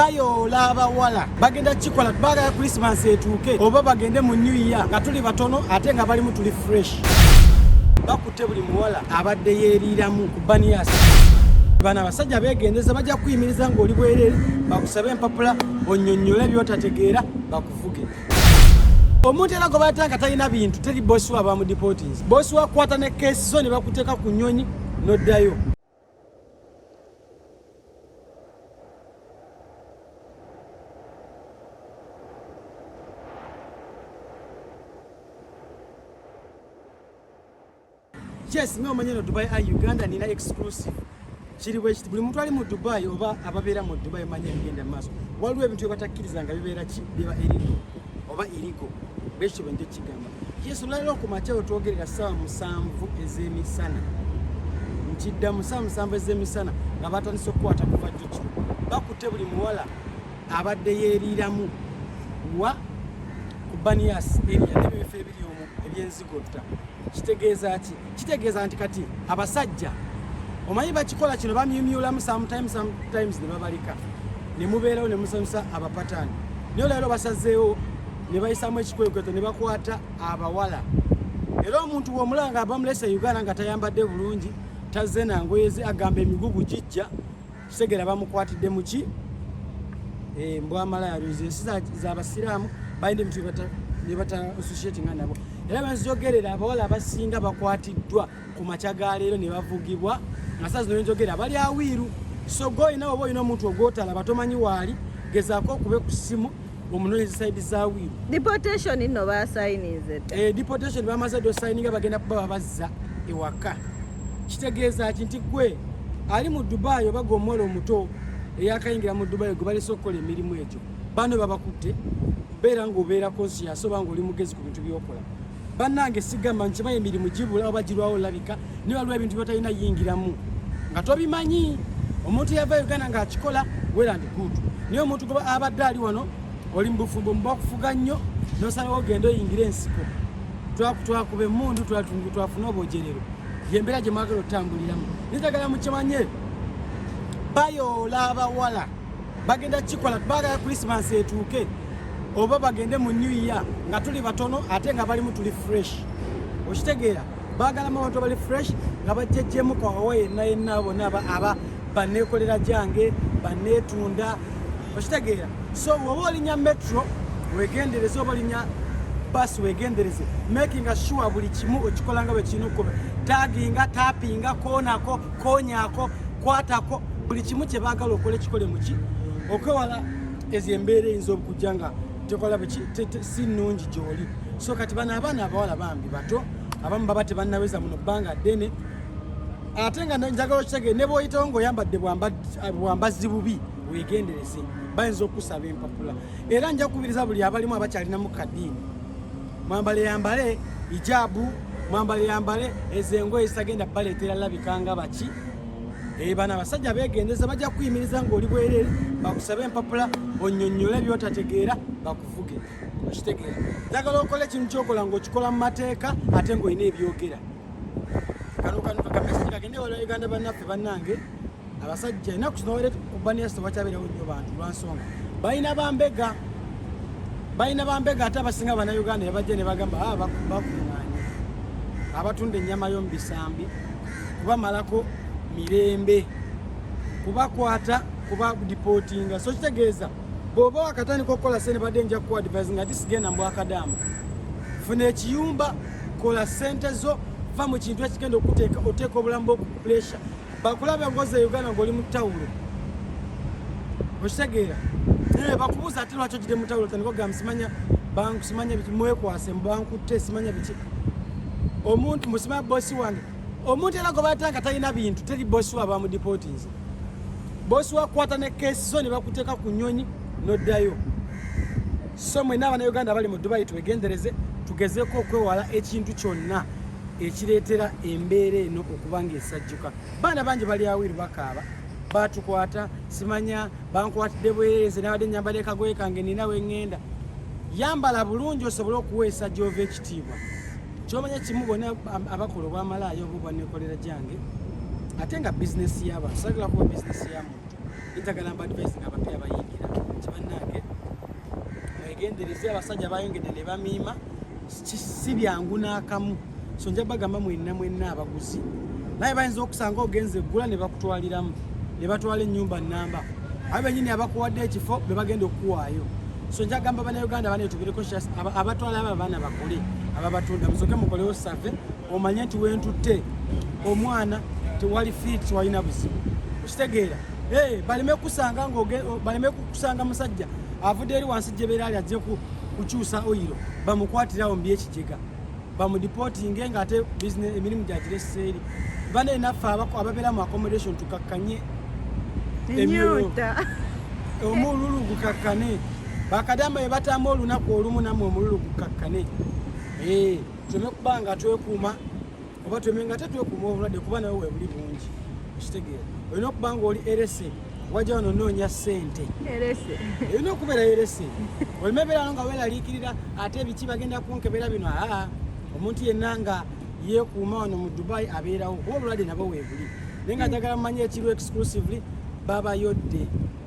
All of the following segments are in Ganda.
bayoola abawala bagenda kukikola baagala krisimansi etuuke oba bagende mu new year nga tuli batono ate nga balimu tuli fresh bakutte buli muwala abadde yeeriiramu ku baniyasi bano abasajja beegendeza bajja kuyimiriza ng'oli bwereere bakusabe empapula onyonnyole byotategeera bakuvuge omuntu era gwe baata nga talina bintu teri bosi wa bamudipotinzi bosi wakwata ne keesi zo ne bakuteeka ku nnyonyi n'oddayo yes nga omanyi no dubai ai uganda nina exclusive kiri bwekiti buli muntu ali mu dubai oba ababeera mu dubai manya ebigenda maaso waliwo ebintu byebatakkirizanga bibeera ki biba eriko oba iriko bwekityo bwe nja kigamba yesu olwaliro ku makya wetwogerera saawa musanvu ez'emisana ntidda musaa musanvu ez'emisana nga batandise okukwata kuva jjukiro bakutte buli muwala abadde yeeriiramu wa ku banias eria nebyo ebifo ebiri omu ebyenzi Kotta kitegeeza ki? Kitegeeza nti kati abasajja omanyi bakikola kino bamyumyulamu sometimes sometimes ne babalika ne mubeerawo ne musanyusa abapataani naye olwaliro basazeewo ne bayisaamu ekikwekweto ne bakwata abawala era omuntu bw'omulaba nga bamulese e Uganda nga tayambadde bulungi tazze na ngoye ze agamba emigugu gijja Segera bamukwatidde mu ki eh, mbwamalaya lwezi ensi zabasiraamu balina ebitu nebata associatinga nabo era banzijogerera abawala abasinga bakwatiddwa ku makya ga leero ne bavugibwa nga saa zino nenjogerera bali awiiru so goyina oba olina omuntu ogwotalaba tomanyi waali gezaako okube ku ssimu omunoonyezi saidi zawiru deportation nno basayininze dda eh, deportation bamaze dda osayininga bagenda kuba babazza ewaka kitegeeza ki nti gwe ali mu dubai oba gwe omuwala omuto eyakayingira mu dubai gwe balese okukola emirimu egyo bano babakutte beera ngaobeera konsiyaso oba nga oli mugezi ku bintu byokola bannange sigamba nkimanyi emirimu gibula oba girwawo olabika naye waliwo ebintu byotalina yingiramu nga tobimanyi omuntu yava uganda ngaakikola werandi good naye omuntu abadde ali wano oli mubufumbo mubakufuga nnyo nosalawo ogenda oyingira ensiko twakuba emundu twafune obojerero yembeera gyemwagala otutambuliramu nitagala mukimanye bayoola abawala bagenda kukikola baagala krisimansi etuuke oba bagende mu new year nga tuli batono ate nga balimu tuli fresh okitegeera baagalamu abantu abali fresh nga bajjejjemu kawawa yenna yenna bona aba banneekolera gyange banneetunda okitegeera so woba olinya metro wegendereze oba olinya basi wegendereze makinga sure buli kimu okikolanga bwekirina okukola taginga tapinga konako konyaako kwatako buli kimu kye baagala okola ekikole muki okwewala ezo embeera eyinza okujja nga tekola si nnungi gyoli so kati bano abaana abawala bambi bato abamu baba tebannaweza muno bbanga ddene ate nga njagala okitegeere ne bwoyitawo ngaoyambadde bwambazi bubi wegendereze bayinza okusaba empapula era nja kukubiriza buli abalimu abakyalinamu kadiini mwambale yambale ijabu mwambale yambale ezo engoye zitagenda baleetera labika nga baki eh, bano abasajja begendeza bajja kuyimiriza ngaoli bwerere bakusabe empapula onyonyole byotategeera bakuvuge okitegeera njagala okola ekintu kyokola ngaokikola mu mateeka ate ngaolina ebyogera kano kano kakamesiki kagende wala uganda bannaffe bannange abasajja enaku kino wale kubaniya sitewakyabeerawo nnyo bantu lwansonga balina bambega balina bambega ate abasinga banauganda nebajja nebagamba ah, bakuŋanye abatunda ennyama yomubisambi kubamalako mirembe kubakwata kuba dipootinga so kitegeeza bwoba wakatandika okukola sente badde nja ku advise nga tisigenda mbwakadamu funa ekiyumba kola sente zo va mu kintu ekigenda okuteeka oteeka obulamu bwokupuresha bakulaba engozi e uganda ngaoli mu tawulo okitegeera naye bakubuuza ate lwaki ogide mu tawulo tandikogamba simanya banku simanya biki mwekwase mubankutte simanya biki omuntu musimanya bosi wange omuntu era gwe batanga talina bintu teri bosi wa bamudipotinze bosi wakwata ne kesi zo ne bakuteeka ku nyonyi noddayo so mwena abana uganda bali mu dubai twegendereze tugezeko okwewala ekintu kyonna ekireetera embeera eno okuba ng'esajjuka baana bangi bali awiru bakaaba baatukwata simanya bankwatidde bwereeze nabadde nyambala ekagoye kange nina wengenda yambala bulungi osobole okuweesa gyova ekitiibwa kyomanya kimu bona abakola obwamalaayo oba obwanekolera gyange ate nga bizinesi yabantu sagala kuba bizinesi ya muntu etagala mbadvise nga abapya bayingira kibanange mwegendereze abasajja bayongedde ne bamiima si byangu n'akamu so nja bagamba mwenna mwenna abaguzi naye bayinza okusanga ogenze eggula ne bakutwaliramu ne batwala ennyumba nnamba abo bennyini abakuwadde ekifo be bagenda okukuwaayo so nja gamba banauganda banetubireko abatwala abo abaana bakole ababatunda musoke mukolewo save omanye nti wentutte omwana tewali fiit tewalina buzibu okitegeera baleme kukusanga musajja avudde eri wansi gyebeera ali ajjeku kukyusa oyiro bamukwatirawo mbyekijega bamudipootinge nga ate emirimu gyagireseeri bane naffe ababeera mu accommodation tukakkanye emyoyo omululu gukakkane bakadama ebatamba olunaku olumu namwe omululu gukakkane eh, tube kuba nga twekuuma oba tweme nga ate twekuuma obulwadde kuba nawe webuli bungi okitegeera olina okuba nga oli erese wajja wano onoonya ssente erina okubeera erese olima ebeerano nga weeraliikirira ate ebiki bagenda kunkebera bino aa omuntu yenna nga yeekuuma wano mu dubai abeerawo kuba obulwadde nabo weebuli naye nga njagala mumanye ekiriwo exclusively babayodde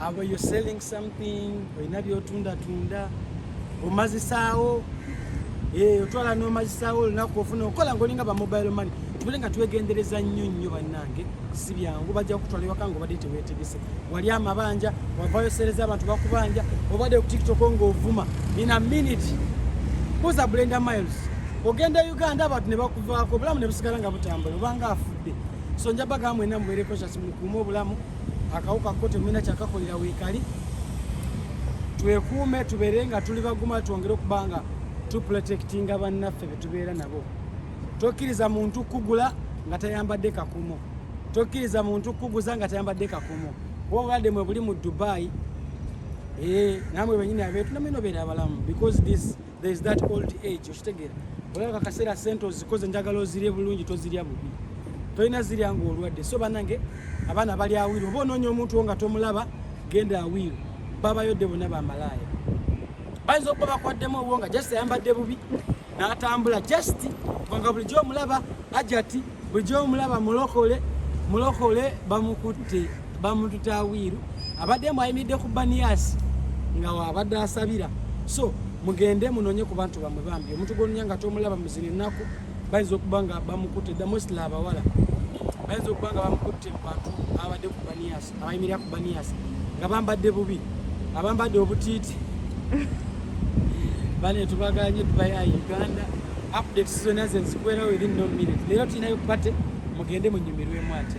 Abo you selling something olina byotundatunda omazisaawo eh, otwala nomazisaawo olunaku ofuna okola ngaolinga ba mobile money tubule nga twegendereza nnyo nnyo bannange si byangu bajja kutwala ewaka nga obadde tewetegese wali amabanja wavayo sereza abantu bakubanja obadde ku tiktok ngaovuma in a minute buza blender miles ogenda uganda abantu ne bakuvaako obulamu ne busigala nga butambula obanga afudde so njabagamu mwena mubeereko kyasi mukuuma obulamu akawuka ko temulina kyakakolera weekali twekuume tubeere nga tuli baguma twongere okuba nga tuprotectinga bannaffe betubeera nabo tokkiriza muntu kugula nga tayambadde kakumo tokkiriza muntu kuguza nga tayambadde kakumo kuba obulwadde mwe buli mu dubai ee eh, namwe benyini abeetu namwe nobeera abalamu because this there is that old age okitegeera olaba kaseera sente ozikoze njagala ozirye bulungi tozirya bubi tolina zirya nga olwadde so banange abaana bali awiru oba onoonya omuntu wo nga tomulaba genda awiru babayodde bona bamalaaya bayinza okuba bakwaddemu obwo nga just ayambadde bubi n'atambula just kubanga bulijjo omulaba ajati Bulijjo omulaba mulokole mulokole bamukutte bamututa awiiru abadde mbu ayimiridde ku baniyasi nga wabadde asabira so mugende munonye ku bantu bamwe bambi omuntu gwononya nga tomulaba muzina ennaku bayinza okuba nga bamukutte damosla abawala bayinza okuba nga bamukutte mu bantu abadde ku baniyasi abayimirira ku baniyasi nga bambadde bubi abambadde obutiiti bane tubaganye tubaya uganda update zona ze nzikwera within no minute leero tulinayo pate mugende munyumirwemu ate